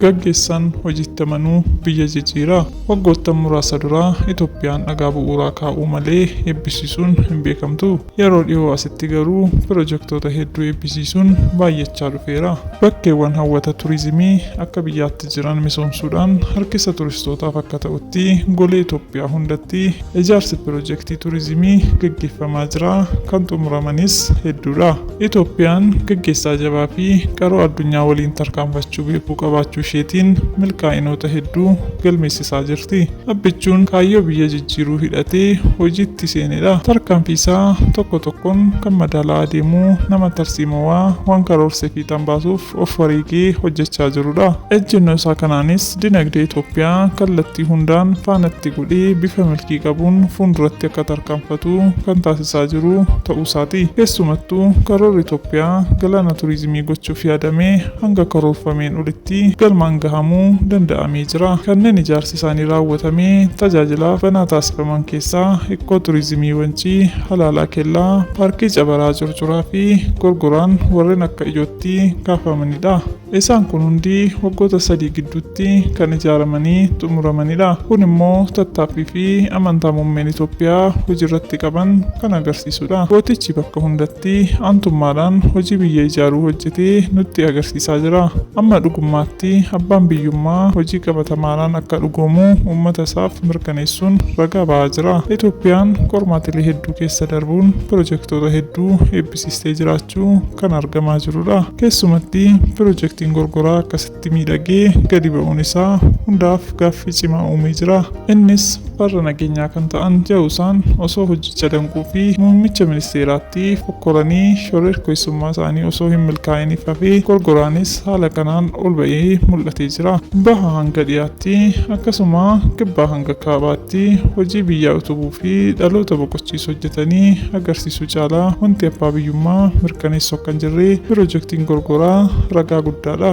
Gaggeessaan hojiitti amanuu biyya jijjiiraa. Waggoottan muraasa duraa Itoophiyaan dhagaa bu'uuraa kaa'uu malee eebbisiisuun hin beekamtu. Yeroo dhihoo asitti garuu pirojektoota hedduu eebbisiisuun baay'achaa dhufeera. Bakkeewwan hawwata turizimii akka biyyaatti jiran misoomsuudhaan harkisa turistootaaf akka ta'utti golee Itoophiyaa hundatti Ijaarsi pirojektii turizimii gaggeeffamaa jira, kan xumuramanis hedduudha. Itoophiyaan gaggeessaa jabaa fi qaroo addunyaa waliin tarkaanfachuu beekuu qabaachuu isheetiin milkaa'inoota hedduu galmeessisaa jirti. Abbichuun kaayyoo biyya jijjiiruu hidhatee hojiitti seenedha. Tarkaanfii isaa tokko tokkoon kan madaalaa adeemuu nama tarsiimowaa, waan karoorse fiixaan baasuuf of wareegee hojjechaa jirudha. Ejjennoo isaa kanaanis dinagdee Itoophiyaa kallattii hundaan faanatti godhee bifa milkii qabuun fuulduratti akka tarkaanfatu kan taasisaa jiru ta'uusaati. Keessumattuu karoorri Itoophiyaa galaana turizimii gochuuf yaadame hanga karoorfameen olitti galmaan gahamuu danda'amee jira. Kanneen ijaarsi isaanii raawwatamee tajaajilaaf banaa taasifaman keessaa Ikkoo Turizimii Wancii, Halaalaa Kellaa, Paarkii Cabaraa Curcuraa fi Gorgoraan warreen akka ijootti itti kaafamanidha. Isaan kun hundi waggoota sadii gidduutti kan ijaaramanii xumuramanidha. Kun immoo tattaaffii fi amantaa muummeen Itoophiyaa hojiirratti qaban kan agarsiisudha. Gootichi bakka hundatti aantummaadhaan hojii biyya ijaaruu hojjete nutti agarsiisaa jira. Amma dhugummaatti abbaan biyyummaa hojii qabatamaadhaan akka dhugoomu uummata isaaf mirkaneessuun ragaa ba'aa jira. Itoophiyaan qormaatilee hedduu keessa darbuun pirojektoota hedduu eebbisiisteetti. siistee jiraachuu kan argamaa jirudha. Keessumatti pirojektiin gorgoraa akkasitti miidhagee gadi ba'uun isaa hundaaf gaaffii cimaa uumee jira. Innis farra nageenyaa kan ta'an ja'usaan osoo hojjicha danquu fi muummicha ministeeraatti fokkoranii shororkeessummaa isaanii osoo hin milkaa'iniif hafee gorgoraanis haala kanaan ol ba'ee mul'atee jira. Baha hanga dhiyaatti akkasuma kibbaa hanga kaabaatti hojii biyyaa utubuu fi dhaloota boqochiisu hojjetanii agarsiisu. Su caalaa wanti abbaa biyyummaa mirkaneessu akka hin jirre pirojektiin gorgoraa ragaa guddaadha.